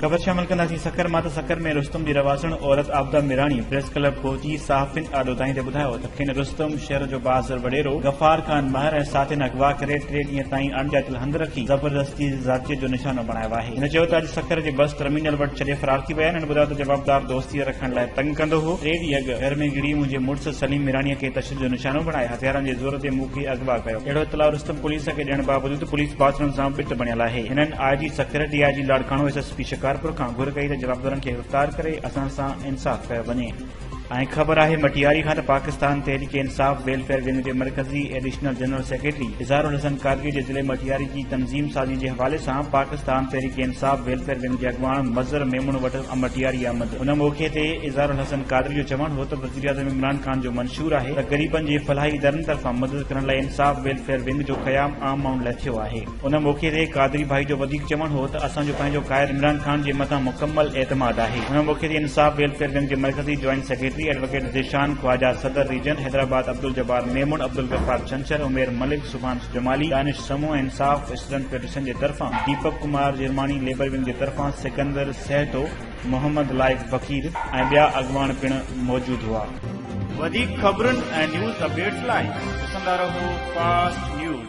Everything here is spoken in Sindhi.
خبر شامل ڪنداسين سکر مان ته سکر ۾ رستم جي رهواسڻ عورت عابده ميراڻي پريس ڪلب پهچي صحافين آڏو دانهين تي ٻڌايو ته کين رستم، شھر جو بھادر وڏيرو، غفار خان مھر ۽ ساٿين اغوا ڪري ٽي ڏينهن تائين اڻڄاتيل ھنڌ رکي زبردستي ذاتيت جو نشانو بڻايو آھي. ھن چيو ته اڄ سکر جي بس ٽرمينل وٽ ڇڏي فرار ٿي ويا آھن. ھن ٻڌايو ته جوابدار دوستي رکڻ لاء تنگ ڪندو ھو. ٽي ڏينهن اڳ گھر ۾ گھڙي منهنجي مڙس سليم ميراڻيء کي تشدد جو نشانو بڻائي ھٿيارن جي زور تي مون کي اغوا ڪيو. اھڙو اطلاع رستم پوليس کي ڏيڻ باوجود پوليس باٿروم سان بت بڻيل آھي. ھنن I G Sukkur, D I G Larkana, S S P Shikarpur کان گھر ڪئي ته جوابدارن کي گرفتار ڪري اسان سان انصاف ڪيو وڃي. ۽ خبر آهي مٽياري کان ته پاڪستان تحريڪ انصاف ويلفيئر ونگ جي مرڪزي additional general secretary Izhar al-Hassan Qadri جي ضلعي مٽياري جي تنظيم سازي جي حوالي سان پاڪستان تحريڪ انصاف ويلفيئر ونگ جي اڳواڻ مظهر ميمڻ وٽ مٽياري آمد ان موقعي تي اظهار الحسن قادري جو چوڻ هو ته وزيراعظم عمران خان جو منشور آهي ته غريبن جي فلاحي ادارن طرفان مدد ڪرڻ لاء انصاف ويلفيئر ونگ جو قيام عام ماڻهن لاء ٿيو آهي ان موقعي تي قادري ڀائي جو وڌيڪ چوڻ هو ته اسان جو پنهنجو قائد عمران خان جي مٿان مڪمل اعتماد آهي. ان موقعي تي انصاف ويلفيئر ونگ جي مرڪزي joint secretary advocate Zeeshan Khawaja, صدر ريجن حيدرآباد عبدالجبار ميمڻ، عبدالغفار ڇنڇر، عمير ملڪ، سبحان جمالي، دانش سمون، انصاف اسٽوڊنٽ فيڊريشن جي طرفان ديپڪ ڪمار جرماڻي، ليبر ونگ جي طرفان سڪندر سهتو، محمد لائق بڪير ۽ ٻيا اڳواڻ پڻ موجود هئا. وڌيڪ خبرن ۽ نيوز اپڊيٽس لاء ڏسندا رهو فاسٽ نيوز.